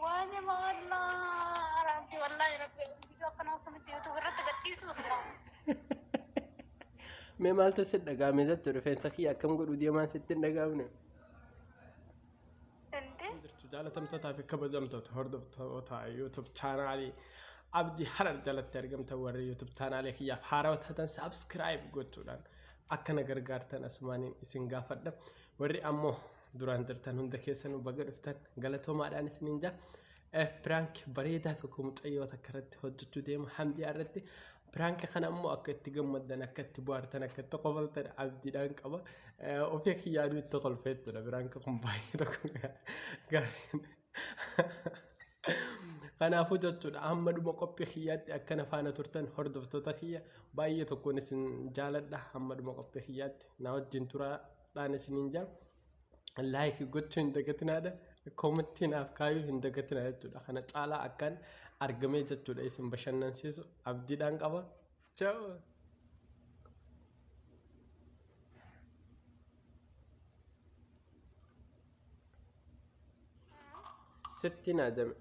Waayee maallaa rabbi wallaahi rabbi viidiyoo akkanaa akkamitti yuutuub irratti gadhiisuuf Mee maaltu si dhagaame jettu rifeensa kiyya akkam godhu deemaan sitti hin dhagaamne. Inti jirtu jaalatamtootaa fi kabajamtoota hordoftoota YouTube chaanaalii Abdii Harar jalatti argamtan warri YouTube chaanaalii kiyyaaf haarawaa taatan subscribe gochuudhaan akka na gargaartan asumaaniin isin gaafadha. Warri ammoo duraan jirtan hunda keessanuu baga dhuftan galatoomaadhaan isiniin jaa. Eh, piraank bareedaa tokko mucayyoo takka irratti hojjechuu deema hamdiyaa irratti. Piraanka kana ammoo akka itti gammaddan, akka itti bohaartan, akka itti qofaltan abdiidhaan qaba. Eh, Ofii kiyyaaduu itti kolfee jechuudha. Piraanka kun baay'ee tokko gaarii. Kanaafuu jechuudha hamma dhuma qophii kiyyaatti akkana faana turtan hordoftoota kiyya baay'ee tokkoon isin jaaladha hamma dhuma qophii kiyyaatti na wajjin turaadhaan isiniin jaa laayikii gochuu hin dagatinaadha koomittii naaf kaayuu hin dagatina jechuudha kana caalaa akkan argamee jechuudha isin bashannansiisu abdiidhaan qaba Chao. Sitti na jame.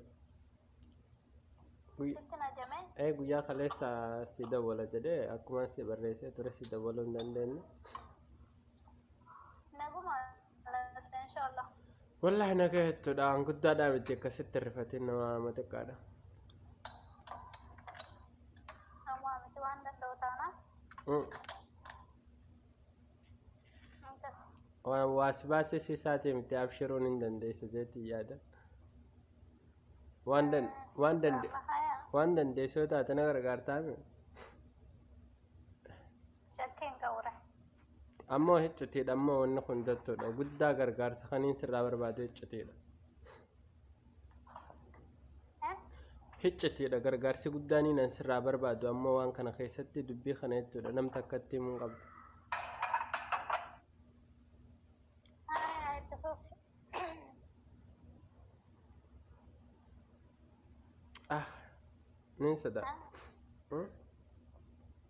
Guyy- Sitti na jamee? Ee guyyaa kaleessa si dawwala jedhee akkuma si barreessee ture si dawwaluu hin dandeenye. Naguma inshallah Wallahi na gahettudha waan guddaadhaa miti akkasitti hin rifatiin nama nama xiqqaadha. amma miti waan danda'u taana Mm. intas Waan waas baasee si isaatee miti abshiruun hin dandeessu jeetii yaada. Waan dan waan dande haya waan dandeessu yoo taate na gargaartaa mi? Shatteen qawura. Ammoo hiccitiidha ammoo wanni kun jechuudha. Guddaa gargaarsa kaniin sirraa barbaadu hiccitiidha. Eh? Hiccitiidha gargaarsi guddaan inni ani sirraa barbaadu ammoo waan kana keessatti dubbii kana jechuudha. Nam takkatti himuu hin qabdu. Haa itti fufi. Ah, niin sodaa. Hmm?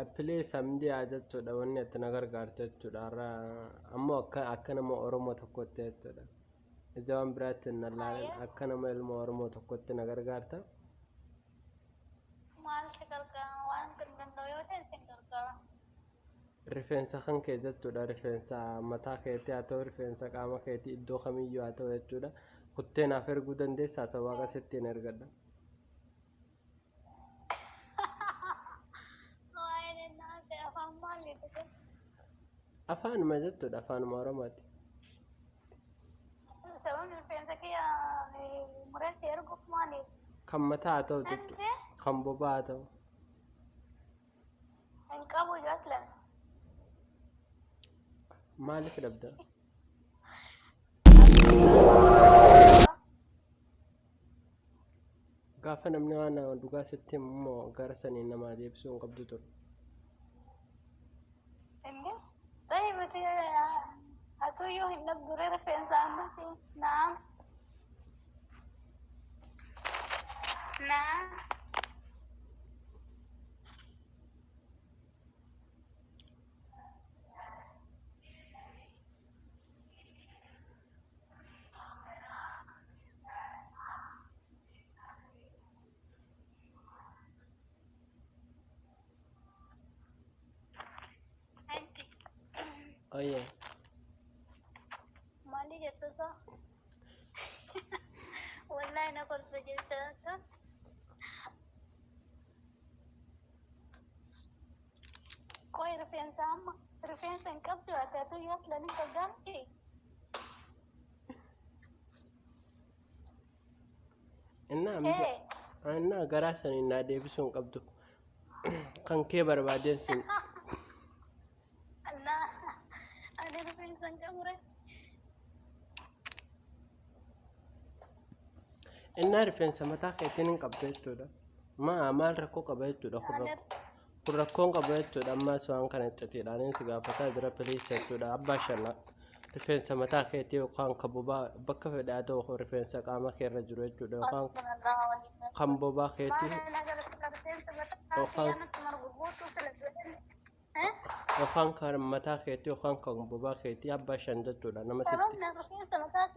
Appilee samdii haa jechuudha wanni ati na gargaarte jechuudha har'a ammoo akka akka nama Oromoo tokkotti jechuudha ija waan biraatti hin lallaalan akka nama ilma Oromoo tokkotti na gargaarta Maal si gargaara waan danda'u yoo ta'e sin gargaara. Rifeensa kan kee jechuudha rifeensa mataa keetii haa ta'u rifeensa qaama keetii iddoo kamiyyuu haa ta'u jechuudha kuttee naaf erguu dandeessaa isa waaqa sittiin ergadha. Waa'ee naase afaan maaliiti kun? Afaanuma jechuudha afaanuma oromooti. Sababni rifeensa kiyya mureessi erguuf maaliif? Kan mataa haa ta'u jechuudha Nandee? kan bobaa haa ta'u. Hin qabu iyyuu aslan. Maaliif dhabda? Gaafa namni waan dhugaa sitti himu immoo gara saniin namaa deebisuu hin qabdu ture. Inni ta'e miti atuyyuu hin dhabdure rifeensa ammati naam naam Anti Oye. mali jetta sa? Wallahi na kolfa jetta sa? Qoy rifeensa amma rifeensa hin qabdu ati atu yoo silani qabdaa miti? Innaa mija Ee. innaa garaa sanii naa deebisuu hin qabdu. Kan kee barbaadeen sin Annaa ani rifeensa hin qabure. innaa rifeensa mataa keetiin hin qabdu jechuudha. Maa maal rakkoo qaba jechuudha kun Ani rakkoo. kun rakkoon qabu jechuudha ammaas waan kana iccitiidhaan si gaafataa jira piliisa jechuudha abbaa shanna rifeensa mataa keetii yookaan kan bobaa bakka fedhe haa ta'u rifeensa qaama kee irra jiru jechuudha yookaan kan bobaa keetii yookaan kan mataa keetii yookaan kan bobaa keetii abbaa shan jechuudha nama sitti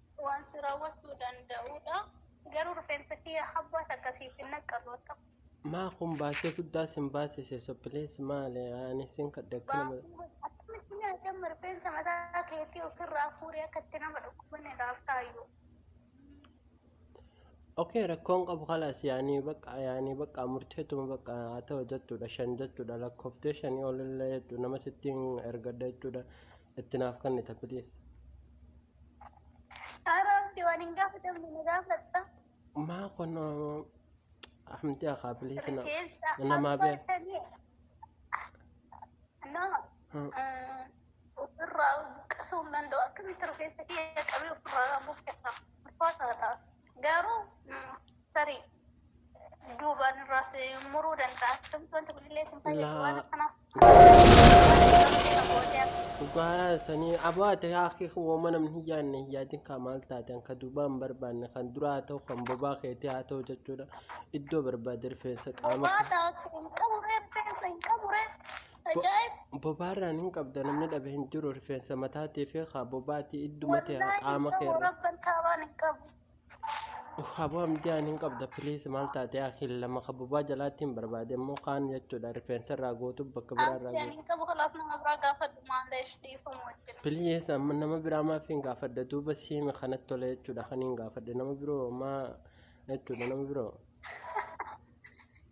waan si raawwachuu danda'udha. Garuu rifeensa kiyya habbaa takka siif hin naqqalu akka. Maa kun baasii guddaa sin baasise so please maale ani sin kadhe akka nama. Baasii akkamitti nyaadamma rifeensa mataa keetii ofirraa fuudhee akka itti nama dhukkubane laaltaayyuu. Okee rakkoon qabu kalaas yaanii bakka yaanii bakka murteetuma bakka haa ta'u jechuudha shan jechuudha lakkooftee shanii olillee jechuudha nama sittiin ergadha jechuudha itti naaf kennita please. Araabdi waan hin gaafatamne na gaafatta. Maa kun hamti akaa biliisi na Rifeensa namaa bee. abbaatanii nama Hmm. mm, ofirraa buqqisuu hin danda'u. Akkamitti rifeensa kiyya qabee ofirraa buqqisa? Ulfaataa ta'a. Garuu tarii duubaan irraas muruu danda'a. Akkamitti wanta bilillee isin fayyadu waan akkanaaf. Dhugaa sanii abaa ta'e haakii wooma namni hin yaadne hin yaadin kaa maal taate kan duubaa hin barbaanne kan duraa haa ta'u kan bobaa keetii haa ta'u jechuudha. Iddoo barbaade rifeensa qaama. Bobaa ta'u hin qabu rifeensa hin qabu rifeensa. Ajaa'ib! Bobaarraan hin qabda namni dhabe hin jiru rifeensa mataatii fi haa bobaati idduma ta'e Wallaahi qaama kee gamoo irra. rabban taabaan hin qabu. Haboo amdiyaan hin qabda piliis maal taatee akil lama ka bobaa jalaatti hin barbaade immoo kaan jechuudha rifeensa irraa gootu bakka biraa irraa Amdiyaan gootu. hin qabu kanaaf nama biraa gaafadhu maaleesh dhiifamu wajjin. Piliis amma nama biraa maaf hin gaafadda duuba siimi kanatti tola jechuudha kan hin gaafadde nama biroo maa jechuudha nama biroo.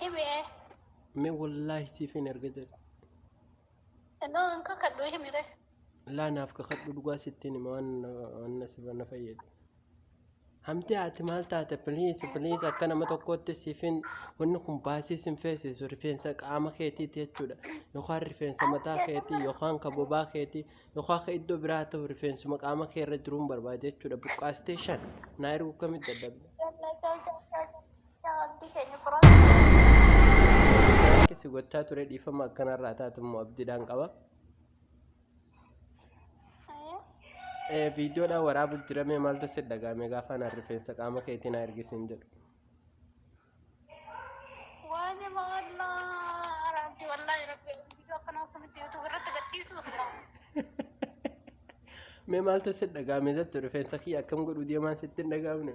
Himee. Me wallaahi siif hin erga jedhe. Noo hin kakadhu himire. Laa naaf kakadhu dhugaa sittiin hima waan na- waan na sifa na fayyadu. Hamtee ati maal taate please please akka nama tokkootti siif hin wanni kun baasii sin feesisu rifeensa qaama keetiiti jechuudha. Yookaan rifeensa mataa keetii yookaan ka bobaa keetii yookaan ka iddoo biraa ta'u rifeensuma qaama kee irra jiruun barbaade jechuudha. Buqqaastee shan naa ergu kamitti dadhabde. Jallata jallata. Yaa Rabbii keenya furaati godhi. Piraanki si gochaa ture dhiifama akkanarraa taatu immoo abdiidhaan qaba. Ayee. Eh, Viidiyoodhaan waraabu jiramee maaltu si dhaga'ame gaafa anaan rifeensa qaama keetii naa ergisiin jedhu. Waayee maallaa rabbi wallaahi rabbi viidiyoo akkanaa akkamitti yuutuub irratti gadhiisuuf moo Mee maaltu si dhaga'ame jettu rifeensa kiyya akkam godhu deemaan sitti hin dhaga'amne.